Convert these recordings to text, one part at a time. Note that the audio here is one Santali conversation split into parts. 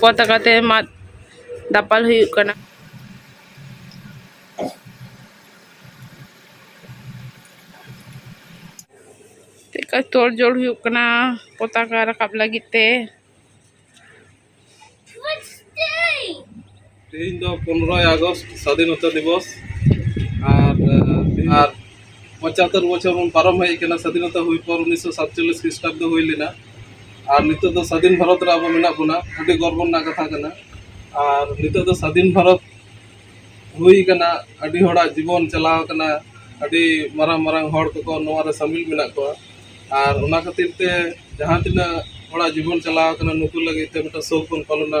ᱯᱚᱛᱟᱠᱟ ᱛᱮ ᱢᱟᱫ ᱫᱟᱯᱟᱞ ᱦᱩᱭᱩᱜ ᱠᱟᱱᱟ ᱪᱮᱫᱠᱟ ᱛᱳᱲ ᱡᱳᱲ ᱦᱩᱭᱩᱜ ᱠᱟᱱᱟ ᱯᱚᱛᱟᱠᱟ ᱨᱟᱠᱟᱵ ᱞᱟᱹᱜᱤᱫ ᱛᱮ ᱛᱮᱦᱮᱧ ᱫᱚ ᱯᱚᱱᱨᱚᱭ ᱟᱜᱚᱥᱴ ᱥᱟᱫᱷᱤᱱᱚᱛᱟ ᱫᱤᱵᱚᱥ ᱟᱨ ᱟᱨ ᱯᱚᱸᱪᱟᱛᱛᱚᱨ ᱵᱚᱪᱷᱚᱨ ᱵᱚᱱ ᱯᱟᱨᱚᱢ ᱦᱮᱡ ᱟᱠᱟᱱᱟ ᱥᱟᱫᱷᱤᱱᱚᱛᱟ ᱦᱩᱭ ᱯᱚᱨ ᱩᱱᱤᱥᱥᱚ ᱥᱟᱛᱪᱚᱞᱞᱤᱥ ᱠᱷᱨᱤᱥᱴᱟᱵᱫᱚ ᱦᱩᱭ ᱞᱮᱱᱟ ᱟᱨ ᱱᱤᱛᱚᱜ ᱫᱚ ᱥᱟᱫᱷᱤᱱ ᱵᱷᱟᱨᱚᱛ ᱨᱮ ᱟᱵᱚ ᱢᱮᱱᱟᱜ ᱵᱚᱱᱟ ᱟᱹᱰᱤ ᱜᱚᱨᱵᱚ ᱨᱮᱱᱟᱜ ᱠᱟᱛᱷᱟ ᱠᱟᱱᱟ ᱟᱨ ᱱᱤᱛᱚᱜ ᱫᱚ ᱥᱟᱫᱷᱤᱱ ᱵᱷᱟᱨᱚᱛ ᱦᱩᱭ ᱟᱠᱟᱱᱟ ᱟᱹᱰᱤ ᱦᱚᱲᱟᱜ ᱡᱤᱵᱚᱱ ᱪᱟᱞᱟᱣ ᱟᱠᱟᱱᱟ ᱟᱹᱰᱤ ᱢᱟᱨᱟᱝ ᱢᱟᱨᱟᱝ ᱦᱚᱲ ᱠᱚᱠᱚ ᱱᱚᱣᱟ ᱨᱮ ᱥᱟᱹᱢᱤᱞ ᱢᱮᱱᱟᱜ ᱠᱚᱣᱟ ᱟᱨ ᱚᱱᱟ ᱠᱷᱟᱹᱛᱤᱨ ᱛᱮ ᱡᱟᱦᱟᱸ ᱛᱤᱱᱟᱹᱜ ᱦᱚᱲᱟᱜ ᱡᱤᱵᱚᱱ ᱪᱟᱞᱟᱣ ᱟᱠᱟᱱᱟ ᱱᱩᱠᱩ ᱞᱟᱹᱜᱤᱫ ᱛᱮ ᱢᱤᱫᱴᱟᱝ ᱥᱳᱠ ᱵᱚᱱ ᱯᱟᱞᱚᱱᱟ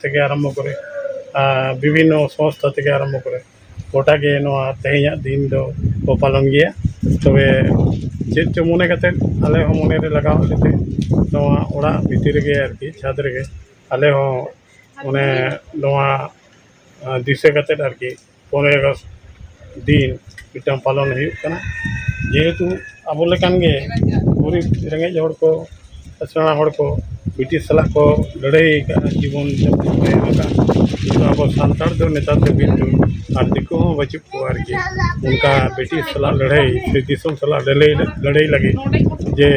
ᱛᱷᱮᱠᱮ ᱟᱨᱟᱢᱵᱷᱚ ᱠᱚᱨᱮ ᱟᱨ ᱵᱤᱵᱷᱤᱱᱱᱚ ᱥᱚᱝᱥᱛᱷᱟ ᱛᱷᱮᱠᱮ ᱟᱨᱟᱢᱵᱷᱚ ᱠᱚᱨᱮ ᱜᱚᱴᱟ ᱜᱮ ᱱᱚᱣᱟ ᱛᱮᱦᱮᱧᱟᱜ ᱫᱤᱱ ᱫᱚ ᱠᱚ ᱯᱟᱞᱚᱱ ᱜᱮᱭᱟ ᱛᱚᱵᱮ ᱪᱮᱫ ᱪᱚᱝ ᱢᱚᱱᱮ ᱠᱟᱛᱮᱫ ᱟᱞᱮ ᱦᱚᱸ ᱢᱚᱱᱮ ᱨᱮ ᱞᱟᱜᱟᱣ ᱮᱱ ᱠᱷᱟᱹᱛᱤᱨ ᱱᱚᱣᱟ ᱚᱲᱟᱜ ᱵᱷᱤᱛᱤᱨ ᱨᱮᱜᱮ ᱟᱨᱠᱤ ᱪᱷᱟᱫᱽ ᱨᱮᱜᱮ ᱟᱞᱮ ᱦᱚᱸ ᱢᱟᱱᱮ ᱱᱚᱣᱟ ᱫᱤᱥᱟᱹ ᱠᱟᱛᱮᱫ ᱟᱨᱠᱤ ᱯᱚᱱᱮᱨᱚᱭ ᱟᱜᱚᱥᱴ ᱫᱤᱱ ᱢᱤᱫᱴᱟᱱ ᱯᱟᱞᱚᱱ ᱦᱩᱭᱩᱜ ᱠᱟᱱᱟ ᱡᱮᱦᱮᱛᱩ ᱟᱵᱚ ᱞᱮᱠᱟᱱ ᱜᱮ ᱜᱩᱨᱤᱵᱽ ᱨᱮᱸᱜᱮᱡ ᱦᱚᱲ ᱠᱚ ᱠᱤᱥᱟᱹᱬ ᱦᱚᱲ ᱠᱚ ᱵᱨᱤᱴᱤᱥ ᱥᱟᱞᱟᱜ ᱠᱚ ᱞᱟᱹᱲᱦᱟᱹᱭ ᱠᱟᱜᱼᱟ ᱡᱤᱵᱚᱱ ᱡᱟᱯᱚᱱ ᱠᱚ ᱮᱢ ᱠᱟᱜᱼᱟ ᱠᱤᱱᱛᱩ ᱟᱵᱚ ᱥᱟᱱᱛᱟᱲ ᱫᱚ ᱱᱮᱛᱟᱨ ᱫᱚ ᱠᱤᱱᱛᱩ ᱟᱨ ᱫᱤᱠᱩ ᱦᱚᱸ ᱵᱟᱹᱪᱩᱜ ᱠᱚᱣᱟ ᱟᱨᱠᱤ ᱚᱱᱠᱟ ᱵᱨᱤᱴᱤᱥ ᱥᱟᱞᱟᱜ ᱞᱟᱹᱲᱦᱟᱹᱭ ᱥᱮ ᱫᱤᱥᱚᱢ ᱥᱟᱞᱟᱜ ᱞᱟᱹᱲᱦᱟᱹᱭ ᱞᱟᱹᱲᱦᱟᱹᱭ ᱞᱟᱹᱜᱤᱫ ᱡᱮ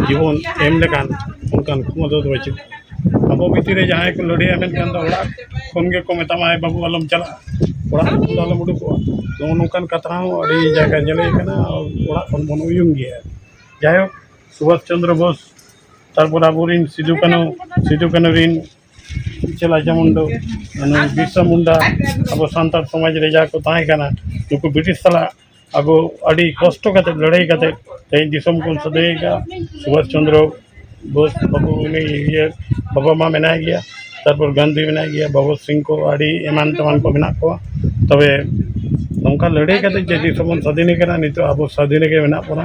ᱡᱤᱵᱚᱱ ᱮᱢ ᱞᱮᱠᱟᱱ ᱚᱱᱠᱟᱱ ᱠᱷᱚᱢᱚᱛᱟ ᱫᱚ ᱵᱟᱹᱪᱩᱜ ᱠᱚᱣᱟ ᱟᱵᱚ ᱵᱷᱤᱛᱤᱨ ᱨᱮ ᱡᱟᱦᱟᱸᱭ ᱠᱚ ᱞᱟᱹᱲᱦᱟᱹᱭᱟ ᱢᱮᱱᱠᱷᱟᱱ ᱫᱚ ᱚᱲᱟᱜ ᱠᱷᱚᱱ ᱜᱮᱠᱚ ᱢᱮᱛᱟᱢᱟ ᱮ ᱵᱟᱹᱵᱩ ᱟᱞᱚᱢ ᱪᱟᱞᱟᱜᱼᱟ ᱚᱲᱟᱜ ᱠᱷᱚᱱ ᱫᱚ ᱟᱞᱚᱢ ᱩᱰᱩᱠᱚᱜᱼᱟ ᱱᱚᱜᱼᱚ ᱱᱚᱝᱠᱟᱱ ᱠᱟᱛᱷᱟ ᱦᱚᱸ ᱟᱹᱰᱤ ᱡᱟᱭᱜᱟ ᱧᱮᱞ ᱦᱩᱭ ᱠᱟᱱᱟ ᱚᱲᱟᱜ ᱠᱷᱚᱱ ᱵᱚᱱ ᱩᱭᱩᱝ ᱜᱮᱭᱟ ᱡᱟᱭᱦᱳᱠ ᱥᱩᱵᱷᱟᱥ ᱪᱚᱱᱫᱨᱚ ᱵᱳᱥ ᱛᱟᱨᱯᱚᱨ ᱟᱵᱚ ᱨᱮᱱ ᱥᱤᱫᱩ ᱠᱟᱹᱱᱦᱩ ᱥᱤᱫᱩ ᱠᱟᱹᱱᱦᱩ ᱨᱮᱱ ᱤᱪᱟᱹᱞ ᱨᱟᱡᱟ ᱢᱩᱱᱰᱟᱹ ᱵᱤᱨᱥᱟ ᱢᱩᱱᱰᱟ ᱟᱵᱚ ᱥᱟᱱᱛᱟᱲ ᱥᱚᱢᱟᱡᱽ ᱨᱮ ᱡᱟᱦᱟᱸᱭ ᱠᱚ ᱛᱟᱦᱮᱸ ᱠᱟᱱᱟ ᱱᱩᱠᱩ ᱵᱨᱤᱴᱤᱥ ᱥᱟᱞᱟᱜ ᱟᱵᱚ ᱟᱹᱰᱤ ᱠᱚᱥᱴᱚ ᱠᱟᱛᱮᱫ ᱞᱟᱹᱲᱦᱟᱹᱭ ᱠᱟᱛᱮᱫ ᱛᱮᱦᱮᱧ ᱫᱤᱥᱚᱢ ᱵᱚᱱ ᱥᱟᱹᱫᱷᱤᱱ ᱟᱠᱟᱫᱼᱟ ᱥᱩᱵᱷᱟᱥ ᱪᱚᱱᱫᱨᱚ ᱵᱳᱥ ᱵᱟᱹᱵᱩ ᱩᱱᱤ ᱤᱭᱟᱹ ᱵᱟᱵᱟ ᱢᱟ ᱢᱮᱱᱟᱭ ᱜᱮᱭᱟ ᱛᱟᱨᱯᱚᱨ ᱜᱟᱱᱫᱷᱤ ᱢᱮᱱᱟᱭ ᱜᱮᱭᱟ ᱵᱷᱚᱜᱚᱛ ᱥᱤᱝ ᱠᱚ ᱟᱹᱰᱤ ᱮᱢᱟᱱ ᱛᱮᱢᱟᱱ ᱠᱚ ᱢᱮᱱᱟᱜ ᱠᱚᱣᱟ ᱛᱚᱵᱮ ᱱᱚᱝᱠᱟ ᱞᱟᱹᱲᱦᱟᱹᱭ ᱠᱟᱛᱮᱫ ᱡᱮ ᱫᱤᱥᱚᱢ ᱵᱚᱱ ᱥᱟᱹᱫᱷᱤᱱ ᱟᱠᱟᱫᱟ ᱱᱤᱛᱚᱜ ᱟᱵᱚ ᱥᱟᱹᱫᱷᱤᱱ ᱨᱮᱜᱮ ᱢᱮᱱᱟᱜ ᱵᱚᱱᱟ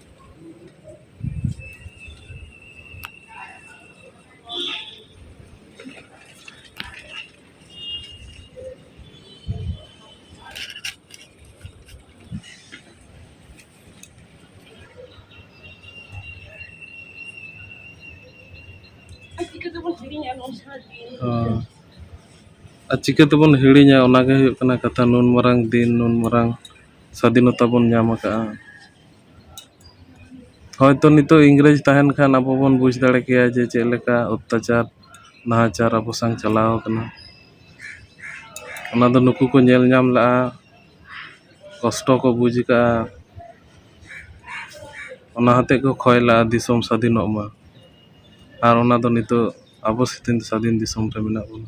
ᱟᱨ ᱪᱤᱠᱟᱹ ᱛᱮᱵᱚᱱ ᱦᱤᱲᱤᱧᱟ ᱚᱱᱟᱜᱮ ᱦᱩᱭᱩᱜ ᱠᱟᱱᱟ ᱠᱟᱛᱷᱟ ᱱᱩᱱ ᱢᱟᱨᱟᱝ ᱫᱤᱱ ᱱᱩᱱ ᱢᱟᱨᱟᱝ ᱥᱟᱹᱫᱷᱤᱱᱚᱛᱟ ᱵᱚᱱ ᱧᱟᱢ ᱟᱠᱟᱫᱼᱟ ᱦᱳᱭᱛᱳ ᱱᱤᱛᱚᱜ ᱤᱝᱨᱮᱹᱡᱽ ᱛᱟᱦᱮᱱ ᱠᱷᱟᱱ ᱟᱵᱚ ᱵᱚᱱ ᱵᱩᱡᱽ ᱫᱟᱲᱮ ᱠᱮᱭᱟ ᱡᱮ ᱪᱮᱫ ᱞᱮᱠᱟ ᱚᱛᱛᱟᱪᱟᱨ ᱱᱟᱦᱟᱪᱟᱨ ᱟᱵᱚ ᱥᱟᱝ ᱪᱟᱞᱟᱣ ᱠᱟᱱᱟ ᱚᱱᱟᱫᱚ ᱱᱩᱠᱩ ᱠᱚ ᱧᱮᱞ ᱧᱟᱢ ᱞᱮᱫᱼᱟ ᱠᱚᱥᱴᱚ ᱠᱚ ᱵᱩᱡᱽ ᱠᱟᱜᱼᱟ ᱚᱱᱟ ᱦᱚᱛᱮᱫ ᱠᱚ ᱠᱷᱚᱭ ᱞᱟᱜᱼᱟ ᱫᱤᱥᱚᱢ ᱥᱟᱹᱫᱷᱤᱱᱚᱜ ᱢᱟ ᱟᱨ ᱚᱱᱟᱫᱚ ᱱᱤᱛᱚᱜ ᱟᱵᱚ ᱥᱟᱹᱫᱷᱤᱱ ᱫᱤᱥᱚᱢ ᱨᱮ ᱢᱮᱱᱟᱜ ᱵᱚᱱᱟ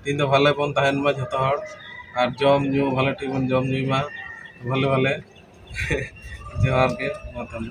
ᱛᱮᱦᱮᱧ ᱫᱚ ᱵᱷᱟᱞᱮ ᱵᱚᱱ ᱛᱟᱦᱮᱱ ᱢᱟ ᱡᱚᱛᱚ ᱦᱚᱲ ᱟᱨ ᱡᱚᱢ ᱧᱩ ᱵᱷᱟᱞᱮ ᱴᱷᱤᱠ ᱵᱚᱱ ᱡᱚᱢ ᱧᱩᱭ ᱢᱟ ᱵᱷᱟᱞᱮ ᱵᱷᱟᱞᱮ ᱡᱚᱦᱟᱨ ᱜᱮ ᱢᱟ ᱛᱟᱦᱚᱞᱮ